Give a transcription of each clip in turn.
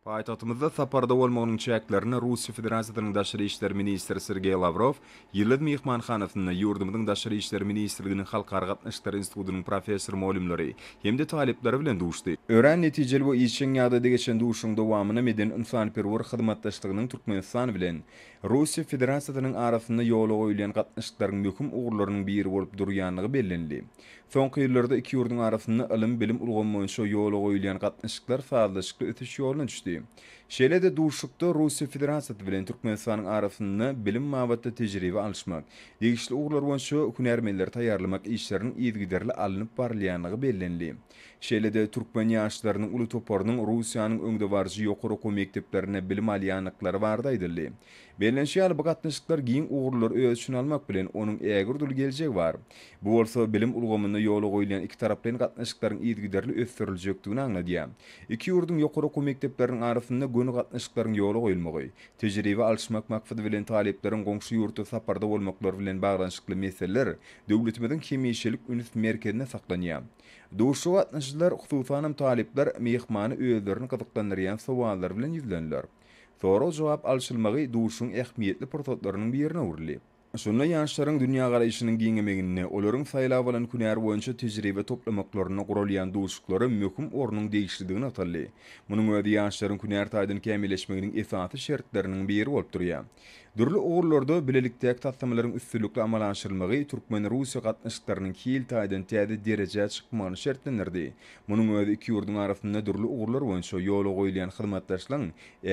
Paýtagtymyzda saparda bolmagynyň çäklerinde Russiýa Federasiýasynyň Daşary işler ministri Sergeý Lawrow Ýyldyz myhmanhanasynda ýurdumyzyň Daşary işler ministrliginiň Halkara gatnaşyklary institutynyň professor-mugallymlary hem-de talyplary bilen duşdy. Örän netijeli we işjeň ýagdaýda geçen duşuşygyň dowamynda medeni-ynsanperwer hyzmatdaşlygynyň Türkmenistan bilen Russiýa Federasiýasynyň arasynda ýola goýulýan gatnaşyklaryň möhüm ugurlarynyň biri bolup durýandygy bellenildi. Soňky ýyllarda iki ýurduň arasynda ylym-bilim ulgamy boýunça ýola goýulýan gatnaşyklar sazlaşykly ösüş ýoluna düşdi. Şeýle-de duşuşykda Russiýa Federasiýasy bilen Türkmenistanyň arasynda bilim babatda tejribe alyşmak, degişli ugurlar boýunça hünärmenleri taýýarlamak işleriniň yzygiderli alnyp barylýandygy bellenildi. Şeýle-de türkmen ýaşlarynyň uly toparynyň Russiýanyň öňdebaryjy ýokary okuw mekdeplerinde bilim alýandyklary barada aýdyldy. Bellenişi ýaly, bu gatnaşyklar giň ugurlary öz içine almak bilen, onuň ägirt uly geljegi bar. Bu bolsa bilim ulgamynda ýola goýulýan ikitaraplaýyn gatnaşyklaryň yzygiderli ösdüriljekdigini aňladýar. Iki ýurduň ýokary okuw mekdepleriniň arasynda göni gatnaşyklaryň ýola goýulmagy, tejribe alyşmak maksady bilen talyplaryň goňşy ýurtda saparda bolmaklary bilen baglanyşykly meseleler döwletimiziň hemişelik üns merkezinde saklanýar. Duşuşyga gatnaşyjylar, hususanam talyplar, myhmany özlerini gyzyklandyrýan sowallar bilen ýüzlendiler. Sorag-jogap alşylmagy duşuň ähmiýetli pursatlarynyň birine öwrüldi. Şunda ýaşlaryň dünýägaraýşynyň giňemeginde, olaryň saýlap alan hünär boýunça tejribe toplamaklarynda guralýan duşuşyklara möhüm ornuň degişlidigi nygtaldy. Munuň özi ýaşlaryň hünär taýdan kämilleşmeginiň esasy şertleriniň biri bolup durýar. Dürli ugurlarda bilelikdäki taslamalaryň üstünlikli amala aşyrylmagy türkmen-russiýa gatnaşyklarynyň hil taýdan täze derejä çykmagyny şertlendirdi, Munuň özi iki ýurduň arasynda dürli ugurlar boýunça ýola goýulýan hyzmatdaşlygyň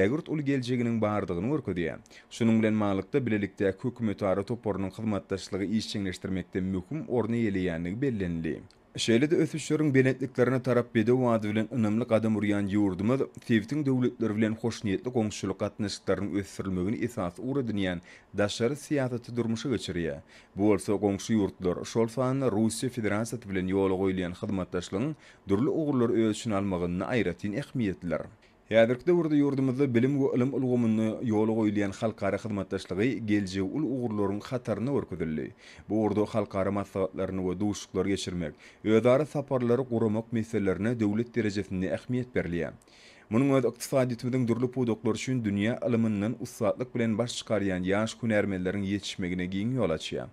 ägirt uly geljeginiň bardygyny görkezýär. Şunuň bilen baglylykda, bilelikdäki hökümetara toparynyň hyzmatdaşlygy işjeňleşdirmekde möhüm orun eýeleýändigi bellenildi. Şeýle-de ösüşleriň belentliklerine tarap bedew ady bilen ynamly gadam urýan ýurdumyz sebitiň döwletleri bilen hoşniýetli goňşuçylyk gatnaşyklarynyň ösdürilmegini esasy ugur edinýän daşary syýasaty durmuşa geçirýär Bu bolsa goňşy ýurtlar, şol sanda Russiýa Federasiýasy bilen ýola goýulýan hyzmatdaşlygyň dürli ugurlary öz içine almagynda aýratyn ähmiýetlidir. Häzirki döwürde ýurdumyzda bilim we ylym ulgamynda ýola goýulýan halkara hyzmatdaşlygy geljegi uly ugurlaryň hatarynda görkezildi. Bu ugurda halkara maslahatlaryny we duşuşyklary geçirmek, özara saparlary guramak meselelerine döwlet derejesinde ähmiýet berilýär. Munuň özi ykdysadyýetimiziň dürli pudaklary üçin dünýä ylymyndan ussatlyk bilen baş çykarýan ýaş hünärmenleriň ýetişmegine giň ýol açýar.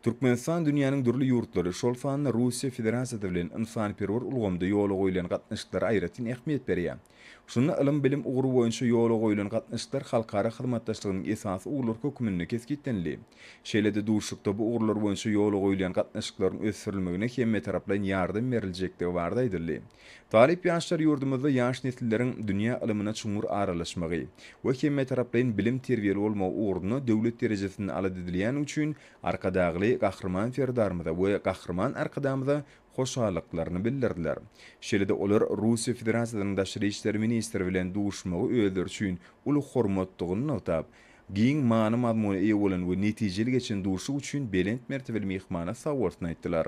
Türkmenistan dünýäniň dürli ýurtlary, şol sanda Russiýa Federasiýasy bilen ynsanperwer ulgamda ýola goýlan gatnaşyklara aýratyn ähmiýet berýär. Şunda ylym-bilim ugry boýunça ýola goýlan gatnaşyklar halkara hyzmatdaşlygynyň esasy ugurlary hökmünde kesgitlenildi. Şeýle-de duşuşykda bu ugurlar boýunça ýola goýulýan gatnaşyklaryň ösdürilmegine hemmetaraplaýyn ýardam beriljekdigi barada aýdyldy. Talyp ýaşlar ýurdumyzda ýaş nesilleriň dünýä ylymyna çuňňur aralaşmagy we hemmetaraplaýyn bilim-terbiýeli bolmagy ugrunda döwlet derejesinde alat edilýäni üçin Arkadagly Gahryman Serdarymyza we Gahryman Arkadamyza hoşallyklaryny bildirdiler. Şeýle-de olar Russiýa Federasiýasynyň Daşary işler ministri bilen duşmagy özleri üçin uly hormatdygyny nygtap, giň many-mazmuna eýe bolan we netijeli geçen duşuşyk üçin belent mertebeli myhmana sagbolsun aýtdylar.